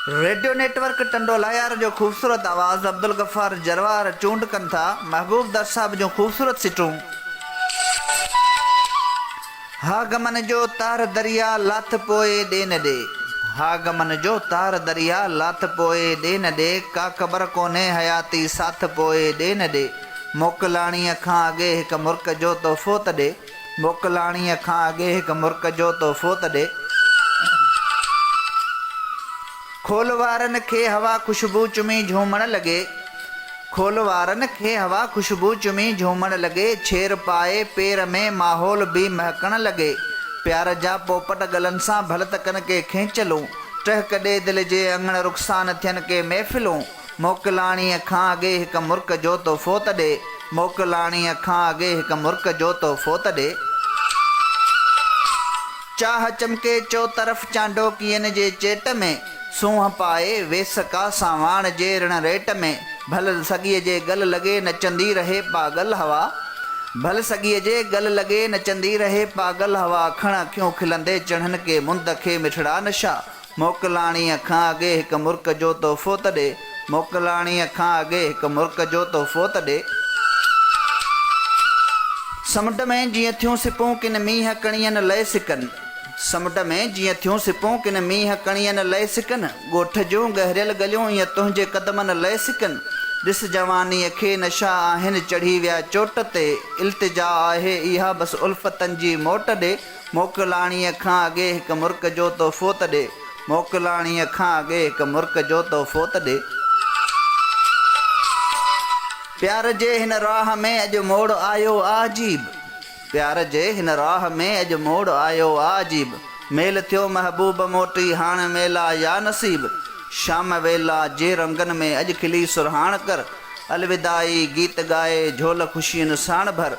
Radio network Tando Allahyar جو خوبصورت آواز عبدالغفار جروار چونڊ ڪن ٿا محبوب در صاحب جون خوبصورت سٽون ها غمن جو تار دريا لاٿ پوء ڏي نه ڏي ها غمن جو تار دريا لاٿ پوء ڏي نه ڏي ڪا قبر ڪونهي حياتي ساٿ پوء ڏي نه ڏي موڪلاڻيء کان اڳي هڪ مرڪ جو تحفو ته ڏي. موڪلاڻيء کان اڳي هڪ مرڪ جو تحفو ته ڏي. کول وارن کي هوا خوشبو چمي جهومڻ لڳي. کول وارن کي هوا خوشبو چمي جهومڻ لڳي. ڇير پائي پير ۾، ماحول به مهڪڻ لڳي. پيار جا پوپٽ ڳلن سان ڀل ته ڪن ڪي کينچلون. ٽهڪ ڏي دل جي اڱڻ رخسان ٿين ڪي محفلون. موڪلاڻيء کان اڳي هڪ مرڪ جو تو فوت ڏي، موڪلاڻيء کان اڳي هڪ مرڪ جو تو فوت ڏي. چاهه چمڪي چوطرف چانڊوڪين جي چيٽ ۾، سونهن پائي ويس ڪا سانواڻ جي رڻ ريٽ ۾، ڀل سڳيء جي ڳل لڳي نچندي رهي پاڳل هوا، ڀل سڳيء جي ڳل لڳي نچندي رهي پاڳل هوا، کڻ اکيون کلندي چڙهن ڪي مند کي مٺڙا نشا. موڪلاڻيء کان اڳي هڪ مرڪ جو تحفو ته ڏي. موڪلاڻيء کان اڳي هڪ مرڪ جو تحفو ته ڏي. سمنڊ ۾ جيئن ٿيون سپون ڪن مينهن ڪڻين لئي سڪن. سمنڊ ۾ جيئن ٿيون سپون ڪن مينهن ڪڻين لئي سڪن. ڳوٺ جون ڳهريل ڳليون ائين تنهنجي قدمن لئي سڪن. ڏس جوانيء کي نشا آهن چڙهي ويا چوٽ تي. التجا آهي اها بس الفتن جي موٽ ڏي. موڪلاڻيء کان اڳي هڪ مرڪ جو تحفو ته ڏي. موڪلاڻيء کان اڳي هڪ مرڪ جو تحفو ته ڏي. پيار جي هن راهه ۾ اڄ موڙ آيو آ عجيب. پيار جي هن راهه ۾ اڄ موڙ آيو آ عجيب. ميل ٿيو محبوب موٽي هاڻ ميلا يا نصيب. شام ويلا جي رنگن ۾ اڄ کلي سرهاڻ ڪر. الوداعي گيت ڳائي جهول خوشين ساڻ ڀر.